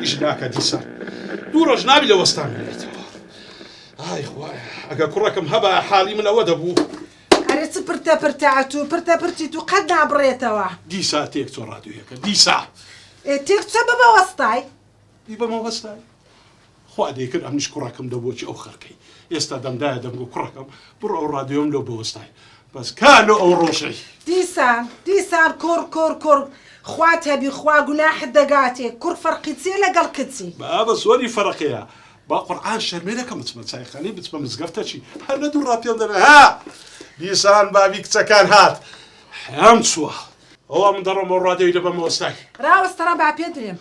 ئیش ناکە دیسان دوو ڕۆژ ناوی لە وەستان بێتەوە ئای خوایە ئەگە کوڕەکەم هەبا حاڵی من ئەوە دەبوو ئەرێ چ پرتە پرتات و پرتە پرتی تو قەت نابڕێتەوە دیسا تێک چۆ ڕادویەکە دیسا ئێ تێک چە بەمە وەستای بەمە وەستای خوا دەیکرد ئەمنیش کوڕەکەم دە بۆچی ئەو خەرکەی ئێستا دەمدایە دەمگۆ کوڕەکەم بڕۆ ئەو ڕادیۆم لۆ بەوەستای بەس کا لۆ ئەو ڕۆژەی. دیسان دیسان کوڕ کوڕ کوڕ خوات هەبی خوا گوناحت دەگاتێ کوڕ فەرقی چیە لەگەڵ کچی. بابە زۆری فەرقەیە با قورعان شەرمێ دەکەم بچمە چایخانەی بچمە مزگەفتە چی هەر لە دوو ڕاپێم دەبێ ها دیسان بابی کچەکان هات حەم چووە ئەوە من دەڕۆمەوە ڕادێوی دەبەمەوە سای راوەستەڕە با پێ درێم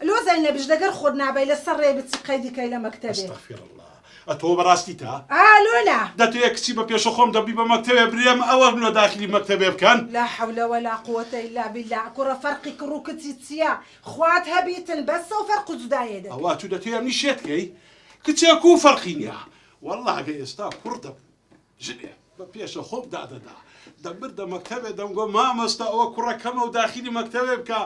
لۆ زەینە بژ لەگەر خۆت نابەی لە سە رێ بچی قەیدی کەی لە مەکتە بێ. استغفراللە ئەتۆ بەڕاستی تە؟ ئا لۆ نا. دەتەوێ کچی بە پێشە خۆم دە بیبە مەکتەبێ برێم ئە وەم لۆ داخلی مەکتەبێ بکەن؟ لا حولە ولا قوەتە الا باللە کوڕە فەرقی کڕ و کچی چیە خوات هە بیتن بەس سە و فەرق و جودایێ دە. ئەوە ئەتو دەتەوێ ئەمنی شێت کەی کچێ کوو فەرقی نیە واللە ئەگەر ئێستا کوڕ دە. ژنێ بە پێشە خۆم دادەدا دەمردە مەکتەبێ دەمگۆ مامۆستا ئەوە کوڕە کەمە و داخیلی مەکتەبێ بکە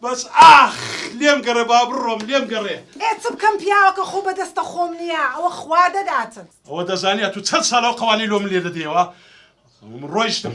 بەس ئاخ لێم گەڕێ با بڕۆم لێم گەڕێ. ئێ چ بکەم پیاوەکە خۆ بە دەستە خۆم نییە ئەوە خوا دەداتت. ئەوە دەزانی ئەتوو چەند ساڵە ئەو قەوانەی لۆ من لێ دەدەیەوە ڕۆیشتم.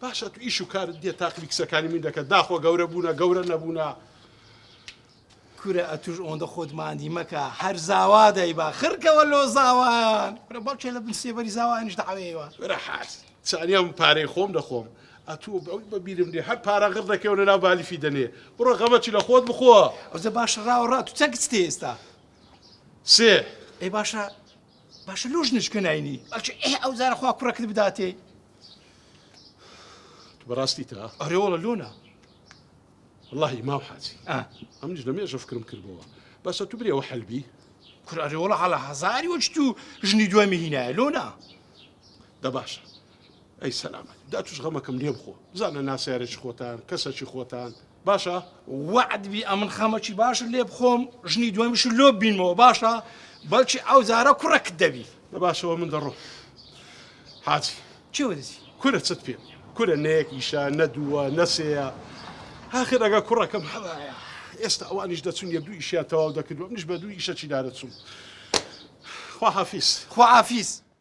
پاش ئەتو ئیش و کارت نیە تاقمی قسەکانی من دەکەت داخۆ گەورە بوونە گەورە نەبوونە. کورە ئەتوش ئۆندە خۆت ماندی مەکە هەر زاوا دەیبا خرکەوە لۆ زاوایان کورە باوکێ لە بن سێبەری زاوایانش داوێەوە ورە حاج چانیام پارەی خۆم دەخۆم ئەتوو بەوت بەبیرم دێ هەر پارە غڕ دەکەون لە ناو بالیفی دەنێ بڕۆ غەمەچی لە خۆت بخۆ ئەوزە باشە ڕاوە ڕات و چەکت تێ ئێستا سێ ئەی باشە باشە لۆژ نشکەناینی ئەچ ئێ ئەو زارە خوا کوڕەکت بداتێ تو بەڕاستی تا ئەرێوەڵە لۆنا واللهی مام حاجی ئەمنیش لە مێژە فکرم کردبەوە بەسە تو برێوە حەلبی کور ئەرێوەڵە هەڵە هەزاری وەچ تو ژنی دوای مهینایە لۆنا دە باشە ئەی سەلامەت دا توش غەمەکەم لێ بخۆ بزانە ناسیارێکی خۆتان کەسەکی خۆتان باشە وەعد بی ئەمن خەمەکی باشت لێ بخۆم ژنی دومیش لۆ بینمەوە باشە بەڵکی ئەو زارە کوڕەکت دەبی بە باشەوە من دەڕۆ حاجی چێوەدەسی کورە چت پێ کورە نەیەک ئیشە نە دووە نەسەیە هاخر ئەگە کوڕەکەم هەبایە ئێستا ئەوانیش دەچون یە دوو ئیشیان تەواو دەکردوە منیش بە دوو ئیشە چیدارە چوم خواحافیس خواحافیس